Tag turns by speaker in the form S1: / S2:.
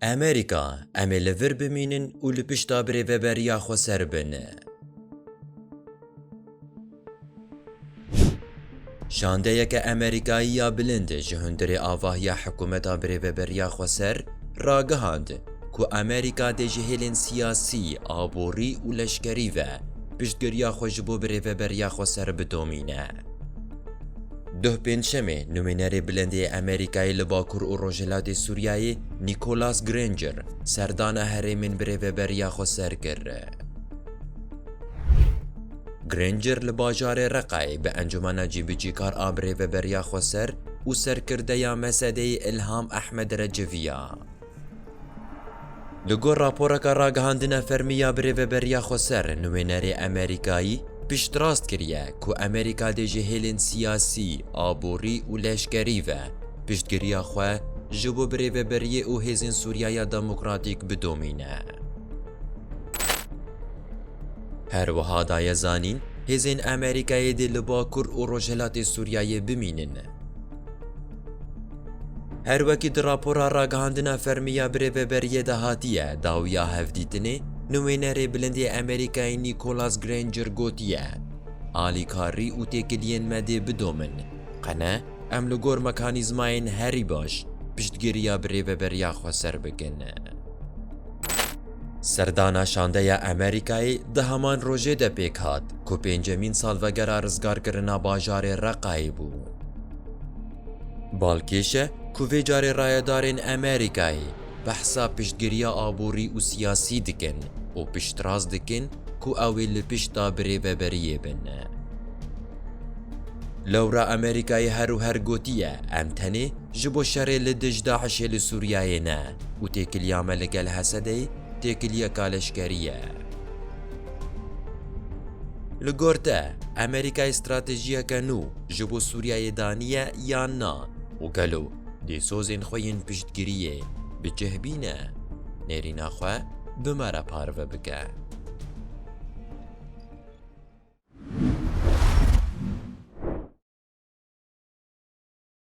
S1: Amerîka, em ê li vir bimînin û li pişta birêveberiya xwe ser bin. Şandeyeke Amerîkayî ya bilind ji hundirê avahiya hikûmeta birêveberiya xwe ser ragihand ku Amerîka dê ji hêlên siyasî, aborî û leşkerî ve piştgiriya xwe ji bo birêveberiya xwe ser bidomîne. Duh Pêncşemê Numînerê Bilendê yê Amerîkayê li Bakur û Rojhilatê Sûriyeyê Nicholas Granger serdana herêmên bi rêveberiya xwe ser kir. Granger li bajarê Reqayê bi Encûmena Cîbicîkar a bi rêveberiya xwe ser û serkirdeya Mesedeyê Îlham Ehmed re civiya. Li gor raporeke ragihandina fermî ya Birêveberiya Xweser, nuênerê Amerîkayî piştrast kiriye ku Amerîka dê ji hêlên siyasî, aborî û leşkerî ve piştgiriya xwe ji bo birêveberiyê û hêzên Sûriya ya Demokratîk bidomîne. Her wiha daye zanîn, hêzên Amerîkayê dê li Bakur û Rojhilatê Sûriyeyê bimînin. Her wekî di rapora ragihandina fermî ya birêveberiyê de hatiye, dawiya hevdîtinê nuwênerê bilind yê Amerîkayê Nîkolas Grainger gotiye, Alîkarî û têkiliyên me dê bidomin, qene em li gor mekanîzmayên herî baş piştgiriya birêveberiya xwe ser bikin. Serdana şandeya Amerîkayê di heman rojê de pêk hat ku pêncemîn salvegera rizgarkirina bajarê Reqayê bû. Balkêş e ku vê carê rayedarên Amerîkayê behsa piştgiriya aborî û siyasî dikin û piştrast dikin ku ew ê li pişta birêveberiyê bin. Lewra Amerîkayê her û her gotiye em tenê ji bo şerê li dij DAIŞ'ê li Sûriyeyê ne û têkiliya me li gel Hesedê têkiliyeka leşkerî ye. Li gor te, Amerîkayê stratejiyeke nû ji bo Sûriyeyê daniye yan na û gelo dê sozên xwe yên piştgiriyê bi cih bîne? Nêrîna xwe bi me re parve bike.